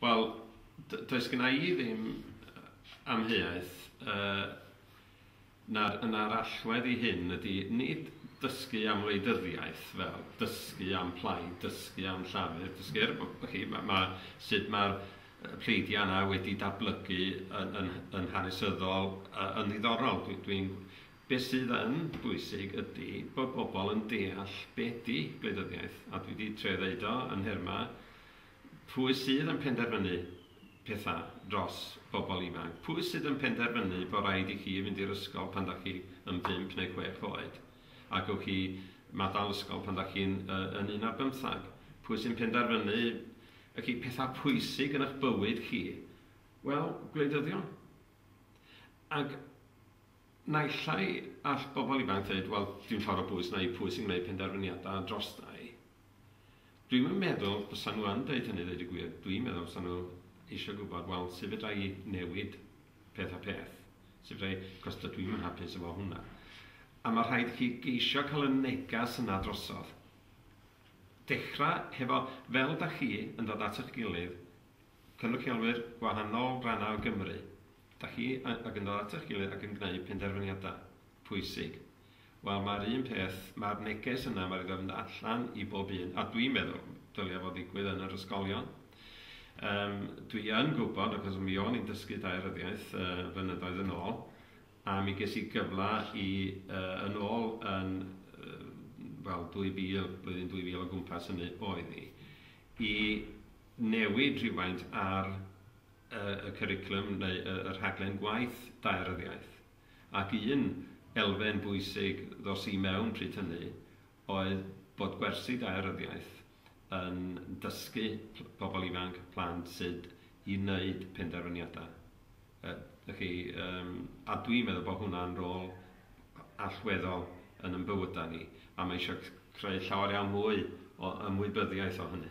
Wel, d- does gynna i ddim yy amheuaeth yy na'r na'r allwedd i hyn ydy nid dysgu am wleidyddiaeth fel dysgu am plaid, dysgu am Llafur, dysgu er bo- bo' chi ma' ma' sud ma'r yy pleidia' yna wedi datblygu yn yn yn hanesyddol yy yn ddiddorol, dwi dwi'n be' sydd yn bwysig ydy bod bobl yn deall be' 'di gwleidyddiaeth a dwi 'di trio ddeud o yn nherma Pwy sydd yn penderfynu pethau dros bobl ifanc? Pwy sydd yn penderfynu bod rhaid i chi fynd i'r ysgol pan dach chi yn bump neu chwech oed, a gewch chi maddal ysgol pan dach chi'n yn un ar bymthag? Pwy sy'n penderfynu y chi pethau pwysig yn eich bywyd chi? Wel, gwleidyddion. Ac naillai all bobl ifanc ddweud, wel, dwi'n ffordd o bwys na i pwy sy'n gwneud penderfyniadau drosta i. Dwi'm yn meddwl fysan nhw yn deud hynny ddeud y gwir, dwi'n meddwl fysan nhw eisiau gwybod wel sut fedra i newid peth a peth, sut fedra i, cos dydw i'm yn hapus efo hwnna. A mae rhaid i chi geisio cael y negas yna drosodd. Dechrau hefo, fel da chi yn dod at eich gilydd, cynrychiolwyr gwahanol rannau o Gymru, Dach chi ac yn dod at eich gilydd ac yn gwneud penderfyniadau pwysig. Wel, mae'r un peth, mae'r neges yna, mae rhaid mynd allan i bob un, a dwi'n meddwl dylia fo ddigwydd yn yr ysgolion. Um, dwi yn gwybod, achos mi o'n i'n dysgu daearyddiaeth uh, flynyddoedd yn ôl, a mi ges i gyfle i uh, yn ôl yn uh, wel 2000, blwyddyn 2000 o gwmpas hynny oedd i, i newid rhywfaint ar y cwricwlwm neu y rhaglen gwaith daearyddiaeth. Ac un elfen bwysig ddos i mewn pryd hynny oedd bod gwersi daearyddiaeth yn dysgu pobl ifanc, plant, sut i wneud penderfyniadau. Y'ch chi, a dwi'n meddwl bod hwnna'n rôl allweddol yn ein bywydau ni, a mae eisiau creu llawer iawn mwy o ymwybyddiaeth o hynny.